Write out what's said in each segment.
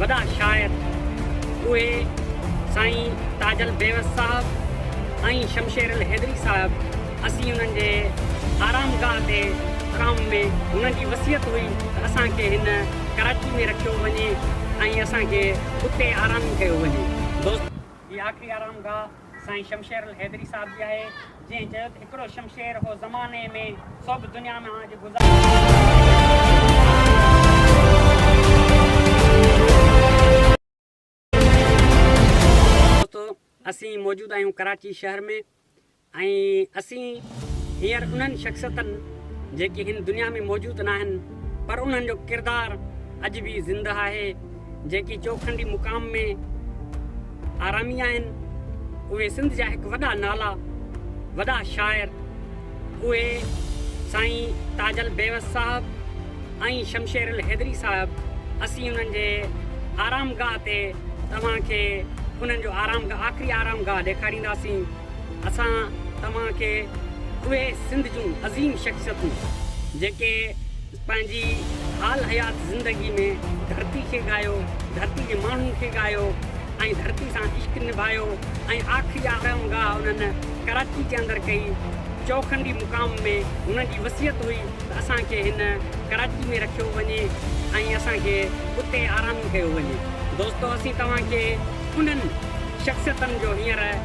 وڏا شاعر اهي سائين تاج البيوس صاحب ۽ شمشير الحيدري صاحب اسين انهن جي آرام گاهه تي آرام ۾ هنن جي وصيت هئي ته اسان کي هن ڪراچي ۾ رکيو وڃي ۽ اسان کي اتي آرام ڪيو وڃي دوستو هي آخري آرام گاهه سائين شمشير الحيدري صاحب جي آهي جنهن چيو ته هڪڙو شمشير هو زماني ۾ سو به دنيا ۾ آج دوستو اسين موجود آهيون ڪراچي شهر ۾ ۽ اسين هينئر انهن شخصيتن جيڪي هن دنيا ۾ موجود ناهن پر انهن جو ڪردار اڄ به زنده آهي جيڪي چوکنڊي مقام ۾ آرامي آهن، اهي سنڌ جا هڪ وڏا نالا، وڏا شاعر، اهي سائين تاج البيوس صاحب ۽ شمشير الحيدري صاحب، اسين انهن جي آرام گاهه تي توهان کي انهن جو آرام گاهه، آخري آرام گاهه ڏيکارينداسين. اسان توهان کي اهي سنڌ جون عظيم شخصيتون جيڪي. پنهنجي حال حيات زندگي ۾ ڌرتي کي ڳايو، ڌرتي جي ماڻهن کي ڳايو ۽ ڌرتي سان عشق نڀايو ۽ آخري آرام گاهه انهن ڪراچي جي اندر ڪئي. چوکنڊي مقام ۾ هنن جي وصيت هئي ته اسان کي هن ڪراچي ۾ رکيو وڃي ۽ اسان کي اتي آرام ڪيو وڃي. دوستو اسين توهان کي انهن شخصيتن جو هينئر.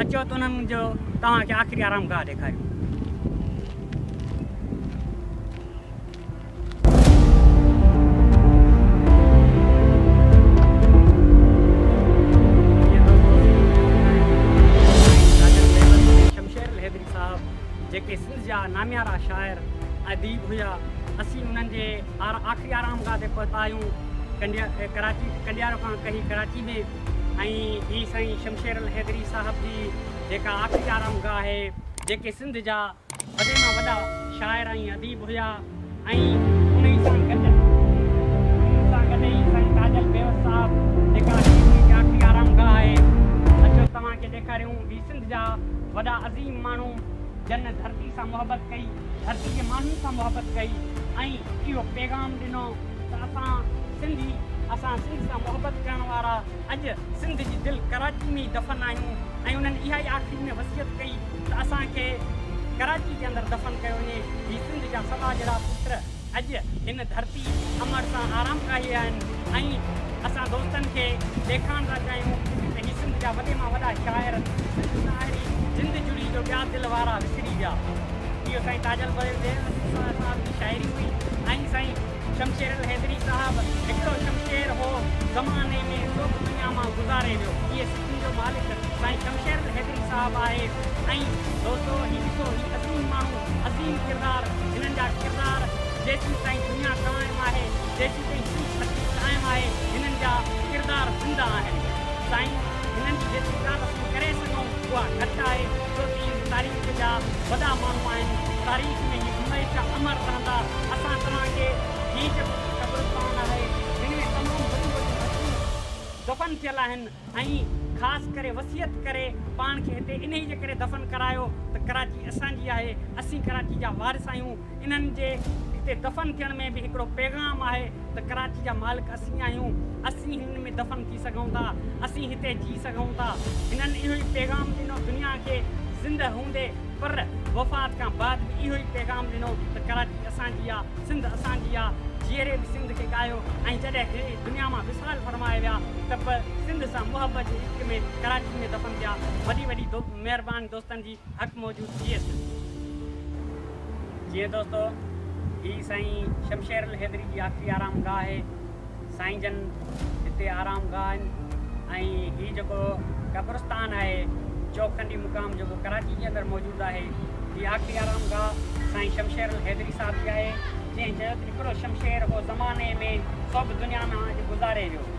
اچو ته انهن جو توهان کي آخري آرامگاهه ڏيکاريون. جيڪي سنڌ جا ناميارا شاعر اديب هيا اسين انهن جي آخري آرام گاهه تي پهتا آهيون ڪنڊيارو کان ڪهي ڪراچي ۾ ۽ ٻي سائين شمشير الحيدري صاحب جي جيڪا آخري آرام گاهه آهي جيڪي سنڌ جا وڏي مان وڏا شاعر ۽ اديب هيا ۽ انهي سان گڏ انهن سان گڏ ئي سائين تاجل بيوس صاحب جيڪا هي انهن جي آخري آرام گاهه آهي اچو توهان کي ڏيکاريون هي سنڌ جا وڏا عظيم ماڻهو جن ڌرتي سان محبت ڪئي ڌرتي جي ماڻهن سان محبت ڪئي ۽ اهو پيغام ڏنو ته اسان سنڌي اسان سنڌ سان محبت ڪرڻ وارا اڄ سنڌ جي دل ڪراچي ۾ ئي دفن آهيون ۽ انهن اها ئي آخري ۾ وصيت ڪئي ته اسان کي ڪراچي جي اندر دفن ڪيو وڃي هي سنڌ جا سوا جهڙا پٽ اڄ هن ڌرتي امڙ تان آرام ڪاهي آهن ۽ اسان دوستن کي ڏيکارڻ ٿا چاهيون ته هي سنڌ جا وڏي مان وڏا شاعر سنڌ ساهري جند جڙي جو ٻيا دل وارا وسري ويا اهو سائين تاجل بيوسي صاحب جي شاعري هئي ۽ سائين شمشير الحيدري صاحب هڪڙو شمشير هو زماني ۾ سو به دنيا مان گذاري ويو هيء سکن جو مالڪ سائين شمشير الحيدري صاحب آهي ۽ دوستو هي ڏسو هي عظيم ماڻهو عظيم ڪردار هنن جا ڪردار جيسين تائين دنيا قائم آهي جيسين تائين سنڌ ڌرتي قائم آهي هنن جا ڪردار زنده آهن سائين هنن جي جيتري تعرف اسين ڪري سگهون اها گهٽ آهي. ڇو ته اهي تاريخ جا وڏا ماڻهو آهن، تاريخ ۾ اهي هميشه امر رهندا. اسان توهان کي هي جيڪو ڪجهه قبرستان آهي، جن ۾ تمام وڏيون وڏيون هستيون دفن ٿيل آهن ۽ خاص ڪري وصيت ڪري پاڻ کي هتي انهي جي ڪري دفن ڪرايو ته ڪراچي اسان جي آهي، اسين ڪراچي جا وارث آهيون. انهن جي هتي دفن ٿيڻ ۾ به هڪڙو پيغام آهي ته ڪراچي جا مالڪ اسين آهيون، اسين هن ۾ دفن ٿي سگهون ٿا، اسين هتي جي سگهون ٿا. هنن اهو ئي پيغام ڏنو دنيا کي زندهه هوندي پر وفات کان بعد به اهو ئي پيغام ڏنو ته ڪراچي اسان جي آ، سنڌ اسان جي آ، جيئري به سنڌ کي ڳايو ۽ جڏهن هي دنيا مان وصال فرمائي ويا ته به سنڌ سان محبت جي عشق ۾ ڪراچي ۾ دفن ٿيا. وڏي وڏي مهرباني دوستن جي. اک موجود ٿيس. جيئي دوستو هي سائين شمشير الحيدري جي آخري آرام گاهه آهي سائين جن هتي آرام گاهه آهن ۽ هي جيڪو قبرستان آهي چوکنڊي مقام جيڪو ڪراچي جي اندر موجود آهي هي آخري آرام گاهه سائين شمشير الحيدري صاحب جي آهي جنهن چيو ته هڪڙو شمشير هو زماني ۾ سڀ دنيا مان اڄ گذاري ويو.